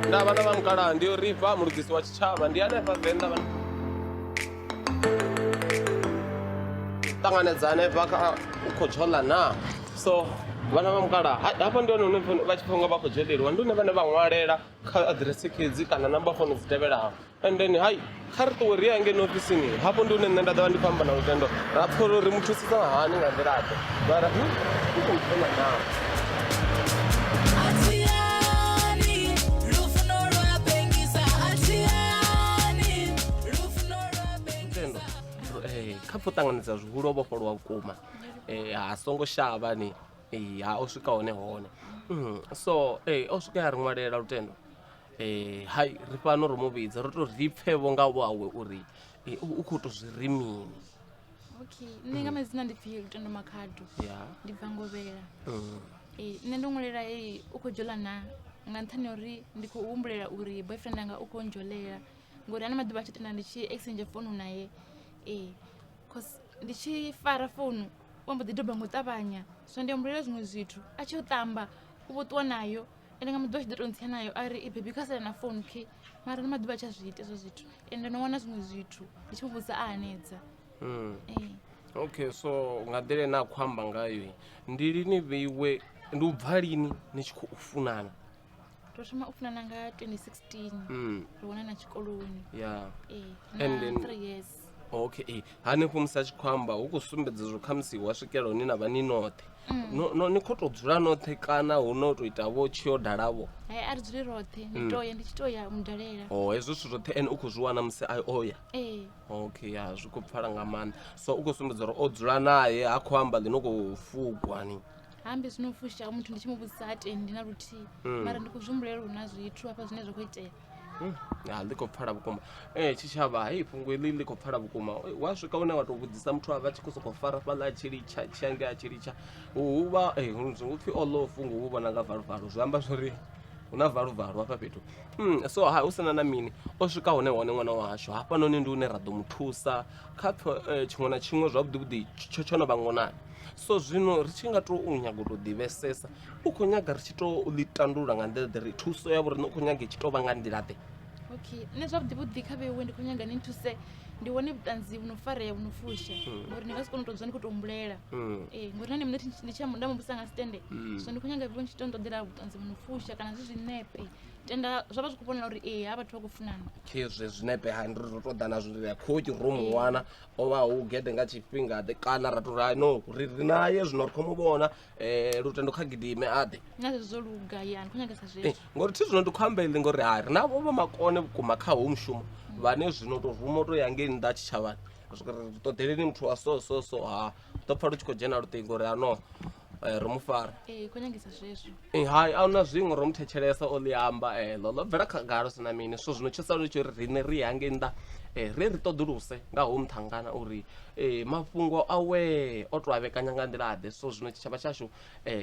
nda vhana vha mukalaha ndi yo riva mulugisi wa tshitshavha ndi hanefha venḓa vha ṱanganedza hanefha kha u khou tshola na so vhana vha mukalaha hafha ndi hone hune vha tshi khou nga vha khou dzheleliwa ndi hune vhane vha ṅwalela kha aḓirese khedzi kana namba fono dzi tevhelaho and then hai kha ri ṱuwe ri ya ngeno ofisini hafho ndi hune nṋe nda ḓovha ndi khou amba na lutendo ra pfha uri ri mu thusisa hani nga nḓilaḓe mara hu u khou thoma naa kha pfo ṱanganedza zwihulu o vhofholowa vhukuma um ha songo shavha ni ee ha o swika hone hone mm, so ee o swika ya ri ṅwalela lutendo ee hai ri fhano ro mu vhidza ro to ri pfhe vho nga wawe uri ee, u u khou to zwi ri mini okay nṋe nga madzina ndi pfhi lutendo makhado ya ndi bva ngovhela mm. ee nṋe ndo ṅwalela ee u khou dzhola na nga nṱhani ha uri ndi khou humbulela uri boyfriend anga u khou ndzholela ngori ana maḓuvha a tshi tenda ndi tshi exchange founu naye ee cause ndi tshi fara founu wa mbo ḓi doba nga u ṱavhanya so ndi ambulela zwiṅwe zwithu a tshi u ṱamba u vho ṱuwa nayo ende nga muḓi wa tshi ḓo to ntsia nayo a ri bebi kha sala na founu khe mara ndi maḓuvha a tshi a zwi ita ezwo zwithu ende no wana zwiṅwe zwithu ndi tshi mu vhudza a hanedza hmm. ee okay so nga nḓila ine a khou amba ngayo ndi lini vheiwe ndi u bva lini ni tshi khou funana ro thoma u funana nga 2016 hmm. ro wanana tshikoloni ya ee na three years okay hanefho musi a tshi khou amba hu khou sumbedza zwo khamusi wa swikela hune na vha ni noṱhe No- no- ni khou tou dzula noṱhe kana hu no tou ita vho tshi yo dalavho hai a ri dzuli roṱhe ndi to ya ndi tshi to ya mu dalela o hezwo zwithu zwoṱhe ene u khou zwi wana musi a o ya ee okay ya zwi khou pfala nga maanḓa so u khou sumbedza uri o dzula naye ha khou amba ḽi no khou fukwa ni hambe zwino fusha muthu ndi tshi mu vhudzisa ha tendi na luthihi mara ndi khou zwi humbulela uri hu na zwithu hafha zwine zwa khou itea Hmm, ah, ḽi khou pfala vhukuma e tshitshavha hai fhungo iḽi ḽi khou pfala vhukuma wa swika une wa tou vhudzisa muthu a vha tshi khou sokou fara fhaḽa a tshi litsha tshi ange a tshi litsha huvha eh, hu pfhi o ḽoo fhungo hu vhona nga valuvalo zwi amba zwori hu na valuvalo hafha fhethu hmm, so ha hu sina na mini o swika hone hone ṅwana wahashu hafhanoni ndi hune ra ḓo mu thusa kha eh, tshiṅwe na tshiṅwe zwavhuḓivhuḓi tsho tsho no vha ngonani so zwino ri tshi nga tou nyaga u tou ḓivhesesa u khou nyaga ri tshi to ḽi tandulula nga nḓila ḓe ri thuso ya vhoriṋe u khou nyaga i tshi tou vha nga nḓila ḓe okay nṋe zwavhuḓi vhuḓi kha vheiwe ndi khou nyaga ni thuse ndi wane vhuṱanzi vhu no farea vhu no fusha hmm. ngori ni nga si kone u tou dzula ni khou tou humbulela hmm. ee eh, ngori na ni mune ndi tshi nda muvhusa nga sitende hmm. so ndi khou nyaga vheiwe ndi tshi to nṱoḓela vhuṱanzi vhu no fusha kana zwi zwinepe tenda zwa vha zwi khou vhonala uri ee ha vhathu vha khou funana khezwi zwinepe ha ndi ri ro tou ḓana zwi ri kho ki ro mu wana o vha hu gede nga tshifhingaḓe kana ra tou ri no ri ri naye zwino ri khou mu vhona Eh, lutendo kha gidime aḓe na zwezwo zwo luga yani khou nyangesa Eh, zwezwo ngori thi zwino ndi khou amba iḽi ngori hai ri na vho vha makone vhukuma kha ho mushumo vhane zwino to ruma u to ya ngei nnḓa tshitshavhani Ri swika ri ri ṱoḓeleni muthu wa so so so ha ḓo pfa lu tshi khou dzhena luṱingo uri ano eh, ro mu fara ee khou nyangesa zwezwo Eh, hai a huna zwiṅwe ro mu thetshelesa o ḽi amba eḽo ḽo bvela khagala hu si na mini so zwino tsho sala ri tshi uri riṋe ri ya ngei nnḓa um ri ri ṱoḓuluse nga ho muṱhangana uri Ee mafhungo awee o to a vhekanya nga nḓila ḓe so zwino tshitshavha tshashu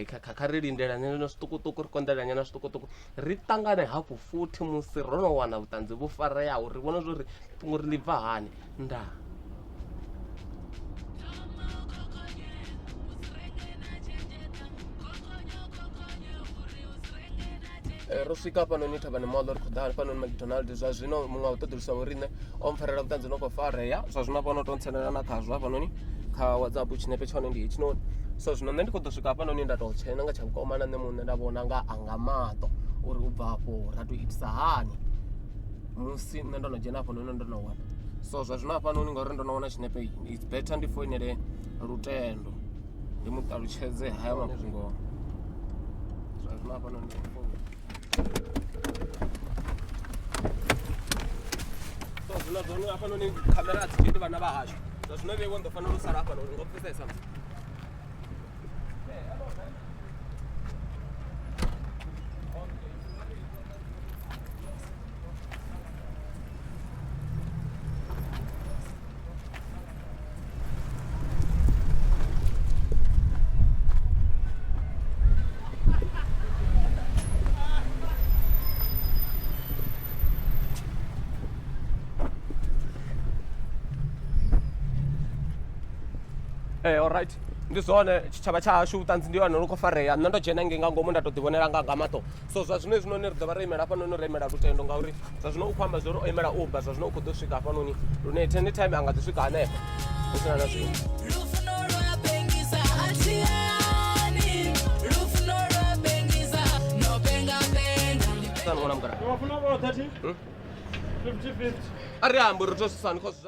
kha kha kha ri lindela nyana zwiṱukuṱuku ri konḓelela nyana zwiṱukuṱuku ri ṱangane hafhu futhi musi ro no wana vhuṱanzi vhu fareaho ri vhone zwori fhungo uri ḽi bva hani ndaa. Eh, ro swika hafhanoni thavhani moḽo ri khou ḓa hafhanoni macdonald zwa zwino muṅwe wa ṱoḓulusa vho riṋe o mpfarela vhuṱanzi no khou farea zwa zwino hafhano to ntsenela na khazwo hafhanoni kha whatsapp tshinepe tshone ndi hetshinoni so zwino nṋe ndi khou ḓo swika hafhanoni nda tou tshena nga tsha vhukoma na nṋe muṋe nda vhona nga anga maṱo uri u bva afho ra tou itisa hani musi nṋe ndo no dzhena hafhanoni ndo no wana so zwa zwino hafhanoni ngauri ndo no wana tshinepe it's better ndi foinele lutendo ndi mu ṱalutshedze haya mafhungo zwa zwino hafha noni so zwino zwone hafha noni khamera a dzi dzheni vhana vha hashu zwa zwino vheiwa ndo fanela u sala hafha noni ngo pfesesa msi right ndi zwone tshitshavha tsha hashu vhuṱanzi ndi hone lu khou farea nṋe ndo dzhena nge nga ngomu nda to ḓi vhonela nga nga maṱo so zwa zwino hezwinoni ri ḓo vha ro imela hafhanoni ro imela lutendo ngauri zwa zwino u khou amba zwo ri o imela uber zwa zwino u khou ḓo swika hafhanoni lune tene time a nga ḓi swika hanefho hu sina na zwino ṅwana mugara hmm? a ri ambi ri thosisani cause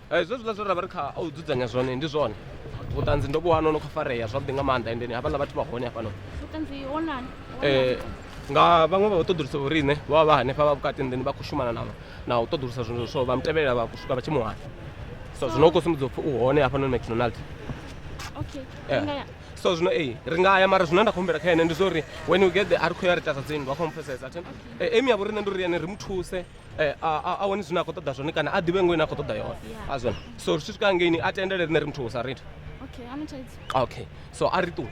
Eh, zwezwiḽa zwe ra vha ri kha u dzudzanya zwone ndi zwone vhuṱanzi ndo vhuwana ono khou farea zwavhuḓi nga maanḓa endeni havhaḽa vhathu vha hone hafhanoni eh, nga vhaṅwe vha u ṱoḓulusa vho riṋe vha vha vha hanefha vha vhukati nḓeni vha khou shumana na na u ṱoḓulusa zwino so vha mutevhelela vha swika vha tshi muwana so zwino u khou sumbedza upfhi u hone hafhanoni mcdonald eh, so zwino ee ri nga ya mara zwine nda khou humbela kha ene ndi zwa uri when u get the a ri khou ya ri tasa dzinndwa kho mpfesesa emi ya vho riṋe ndi uri ene ri mu thuse eh, a wane zwine a khou ṱoḓa zwone kana a ḓivhe ngo ine a khou ṱoḓa yone a zwone so ri tshi swika ngeini a tendele rine ri muthu sa rit okay so a ri ṱuwe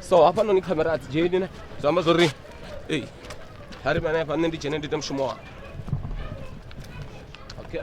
so hafha noni khamera a dzi dzheni ne zwi amba zwo ri ei ha ri vhane hafha nṋe ndi dzhene ndi ite mushumo wanga okay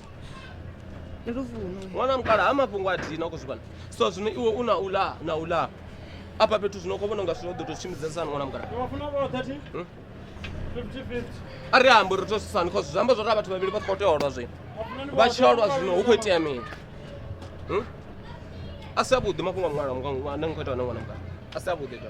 ndi luvuno wana mukala ha mafhungo a dina khou zwi vhona so zwino iwe u na u la na u la afha fhethu zwino khou vhona unga zwino ḓo tou tshimbidzasani wana mukala Hmm? a ri ambo ri tosisani cause zwi amba zwo ri a vhathu vhavhili vha khou tea u lwa zwino vha tshi lwa zwino hu khou itea mini Hmm? a si avhuḓi mafhungo a mungala ane ni khou ita wana wana mukala a si avhuḓi to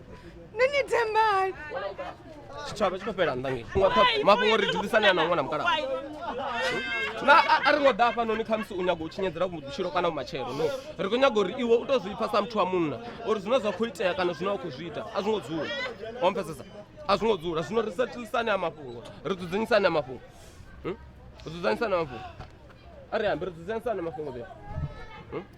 nṋe ni thembani tshitshavha tshi khou fhela nnḓa nge mafhungo ri dzulisane a na ṅwana mukala na a ri ngo ḓa hafhanoni khamusi u nyago u tshinyedzela vhutshilo kana vhumatshelo no ri khou nyaga uri iwe u to zwi ipfa sa muthu wa munna uri zwine zwa khou itea kana zwine wa khou zwi ita a zwi ngo dzula wa mpfesesa a zwi ngo dzula zwino ri setilisane a mafhungo ri dzudzanyisane a mafhungo ri dzudzanyisane a mafhungo a ri ambi ri dzudzanyisane a mafhungo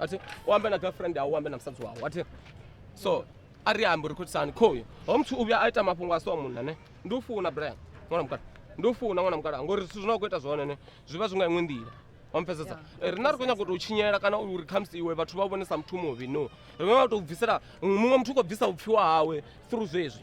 ati u ambe na girlfriend au u ambe na musadzi wau ati so a ri ambi uri khutisani khoyu ho muthu u vhuya a ita mafhungo a so munna ne ndi u funa brian ṅwana mukala ndi u funa ṅwana mukala ngori zwithu zwine wa khou ita zwone ne zwi vha zwi nga iṅwe nḓila wampfesesa Eh, rina ri khou nyanga u tou tshinyela kana uri khamusi iwe vhathu vha u vhonesa muthu muvhi no ri vha tou bvisela muṅwe muthu u khou bvisa vhupfiwa hawe through zwezwi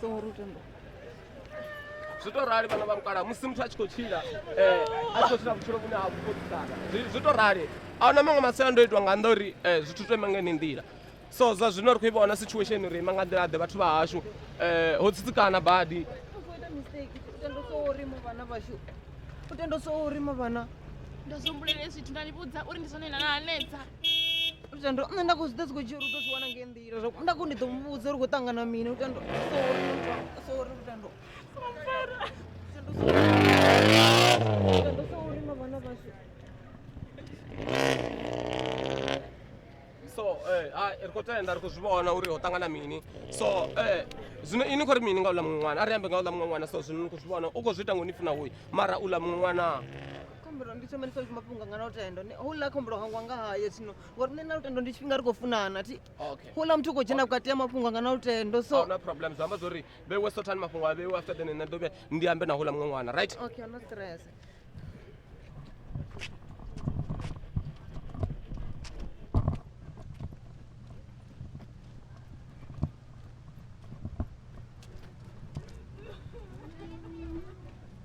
songo ruta ndo zwi to rali vhana vha mukala musi muthu a tshi khou tshila eh, a tshi khou tshila vhutshilo vhune ha vhukoisana zwi to rali a huna maṅwe masiandoitwa nga nnḓa uri eh, zwithu to ima nga yeneyi nḓila so zwa zwino ri khou i vhona situation uri ima nga nḓila ḓe vhathu vha hashu eh, ho tsitsikana badi u tendo so uri mavhana ndo zwi humbulela zwithu nda ni vhudza uri ndi zwone na hanedza lutendo nṋe nda khou zwi ḓa dzi khou dzhia uri u ḓo zwi wana ngei nḓila zwa nda khou ndi ḓo muvhudza uri khou ṱangana mini lutendo sori muthu sori lutendo so eh, ri khou tenda ri khou zwi vhona uri ho ṱangana mini so eh, zwino ini khou ri mini nga uḽa muṅwe ṅwana a ri ambe nga uḽa muṅwe ṅwana so zwino ni khou zwi vhona u khou zwi ita ngo ni funa hoyu mara uḽa muṅwe ṅwana khombulo ndi thoma ndi pfa mafhungo anga na lutendo Ne- houḽa khombulo hangwa nga haye zwino ngori nṋe na lutendo ndi tshifhinga ri khou funana thi okay houḽa muthu u khou dzhena vhukati ha mafhungo anga na lutendo so ahuna problem zwi amba zwori vhewe sothani mafhungo a vhewe after then nṋe ḓo vhe ndi ambe na houḽa muṅwe ṅwana right okay no stress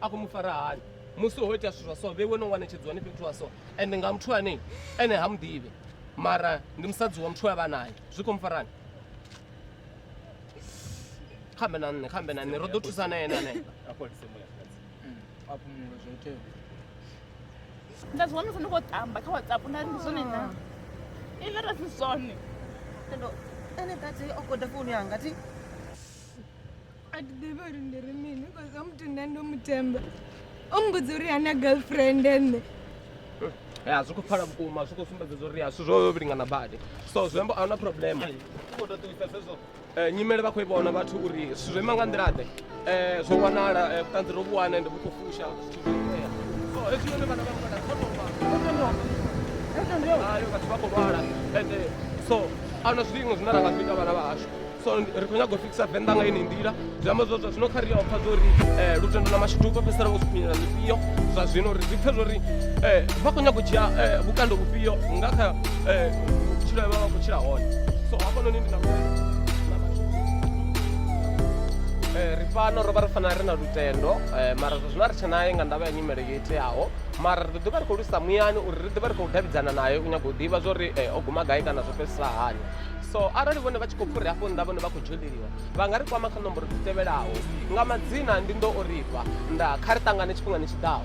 a khou mu fara hani musi ho ita zwithu zwa so vhe wene u wanetshedzwani fhethu wa so ende nga muthu ane ene ha muḓivhe mara ndi musadzi wa muthu we vha naye zwi khou mu farani khambe na nṋe khambe na nṋe ro ḓo thusa na ene ane nda zwi wanesa ndi khou tamba kha whatsapp nda ndi zwone na i nda ra si zwone ene tate o goda founu yanga ti a thi ḓivhi uri ndi ri mini bcause o muthu nda ndo muthemba o mbudza uri ana girlfriend ene ya zwi khou pfala vhukuma zwi khou sumbedzedza uri ya zwithu zwo vhe vhilingana badi so zwi amba a huna problema Eh, nyimele vha khou i vhona vhathu uri zwithu zwo ima nga nḓilaḓe um zwo wanala eh, vhuṱanzi ro vhuwana ende vhu khou fusha zwithu zwo itea so hezwi yone vhana vha mukala kho tou vha ayo vhathu vha khou lwala ende so a huna zwilingo zwine ra nga zwi ita vhana vha hashu so ri khou nyaga u fikisa venḓa nga ine nḓila zwi amba zwazwa zwino kha ri ya pfha zwori eh, lutendo na mashudu vha fhedzisela vho siphinyela zwifhio zwa zwino ri zwi pfhe zwori eh, vha khou nyaga u dzhia eh, vhukando vhufhio nga kha vhutshilo vha vha khou tshila hone so hafhanoni ndi na ri fano ro vha ri fanela ri na lutendo mara zwa zwino a ri tshe naye nga ndavha ya nyimele yo iteaho mara ri ḓo ḓi vha ri khou lusa muyani uri ri ḓi vha ri khou davhidzana naye u nyaga u ḓivha zwa uri o guma gai kana zwo fhedzisa hani so arali vhone vha tshi khou fhuri hafho nnḓa vhone vha khou dzholeliwa vha nga ri kwama kha nomboro dzi tevhelaho nga madzina ndi ndo o rifha nda kha ri ṱangane tshifhingani tshi ḓaho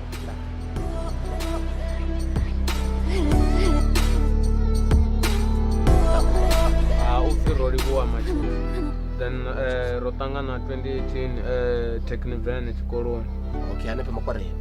upfi ro livhuwa matshilo then eh, ro ṱangana 2018 eh, techniven tshikoloni okay hanefhe makwareni